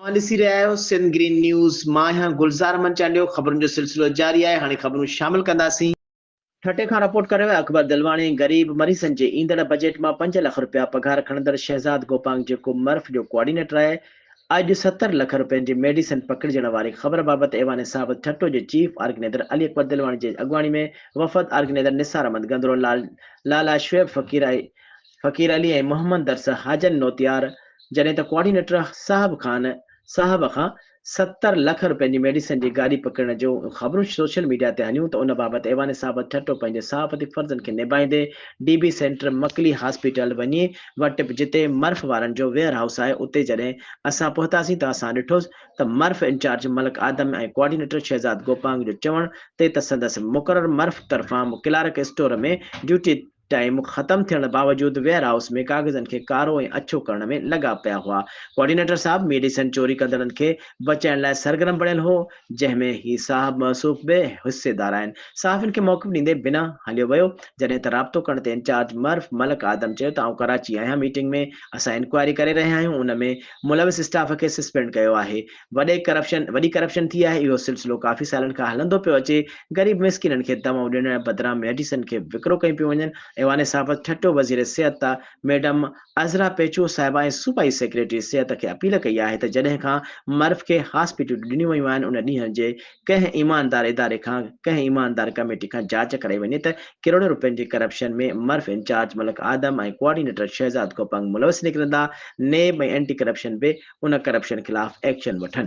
اوهان ڏسي رهيا آهيو سنڌ گرين نيوز مان آهيان گلزار احمد چانڊيو خبرن جو سلسلو جاري آهي هاڻي خبرون شامل ڪنداسين. ٺٽي کان رپورٽ ڪري ويا اڪبر دلواڻي غريب مريضن جي ايندڙ بجيٽ مان پنج لک رپيا پگهار کڻندڙ شهزاد گوپانگ جيڪو مرف جو ڪوآرڊينيٽر آهي اڄ ستر لک رپين جي ميڊيسن پڪڙجڻ واري خبر بابت ايوان صابت ٺٽو جي چيف آرگنيدر علي اڪبر دلواڻي جي اڳواڻي ۾ وفد آرگنيدر نثار احمد گندرو لال لالا شعيب فقير ۽ فقير علي ۽ محمد درس حاجن نوتيار جڏهن ته ڪوآرڊينيٽر صاحب خان صاحب کان ستر لک روپين جي ميڊيسن جي گاڏي پڪڙڻ جو خبرون سوشل ميڊيا تي هليون ته ان بابت ايوان صاحب ٺٽو پنهنجي صحافتي فرضن کي نڀائيندي D B center Makli hospital وڃي وٽ به جتي مرف وارن جو ويئر هائوس آهي اتي جڏهن اسان پهتاسين ته اسان ڏٺوس ته مرف انچارج ملڪ آدم ۽ ڪوآرڊينيٽر شهزاد گوپانگ جو چوڻ تي ته سندس مقرر مرف طرفان ڪلارڪ اسٽور ۾ ڊيوٽي ٽائيم ختم ٿيڻ باوجود ويئر هائوس ۾ ڪاغذن کي ڪارو ۽ اڇو ڪرڻ ۾ لڳا پيا هئا. ڪوآرڊينيٽر صاحب ميڊيسن چوري ڪندڙن کي بچائڻ لاء سرگرم بڻيل هو، جنهن ۾ هي صاحب موصوف به حصيدار آهن. صحافين کي موقف ڏيندي بنا هليو ويو، جڏهن ته رابطو ڪرڻ تي انچارج مرف ملڪ آدم چيو ته آئون ڪراچي آهيان ميٽنگ ۾ اسان انڪوائري ڪري رهيا آهيون ان ۾ ملوث اسٽاف کي سسپينڊ ڪيو آهي، وڏي ڪرپشن وڏي ڪرپشن ٿي آهي اهو سلسلو ڪافي سالن کان هلندو پيو اچي غريب مسڪينن کي دوائون ڏيڻ بدران ميڊيسن کي وڪرو ڪيون پيون وڃن ايوان صحافت ٺٽو وزير صحت ته ميڊم عذرا پيچو صاحبه ۽ صوبائي سيڪريٽري صحت کي اپيل ڪئي آهي ته جڏهن کان مرف کي هاسپيٽلون ڏنيون ويون آهن ان ڏينهن جي ڪنهن ايماندار اداري کان ڪنهن ايماندار ڪميٽي کان جاچ ڪرائي وڃي ته ڪروڙين رپين جي ڪرپشن ۾ مرف انچارج ملڪ آدم ۽ ڪوآرڊينيٽر شهزاد کوپنگ ملوث نڪرندا، نيب ۽ اينٽي ڪرپشن به ان ڪرپشن خلاف ايڪشن وٺن.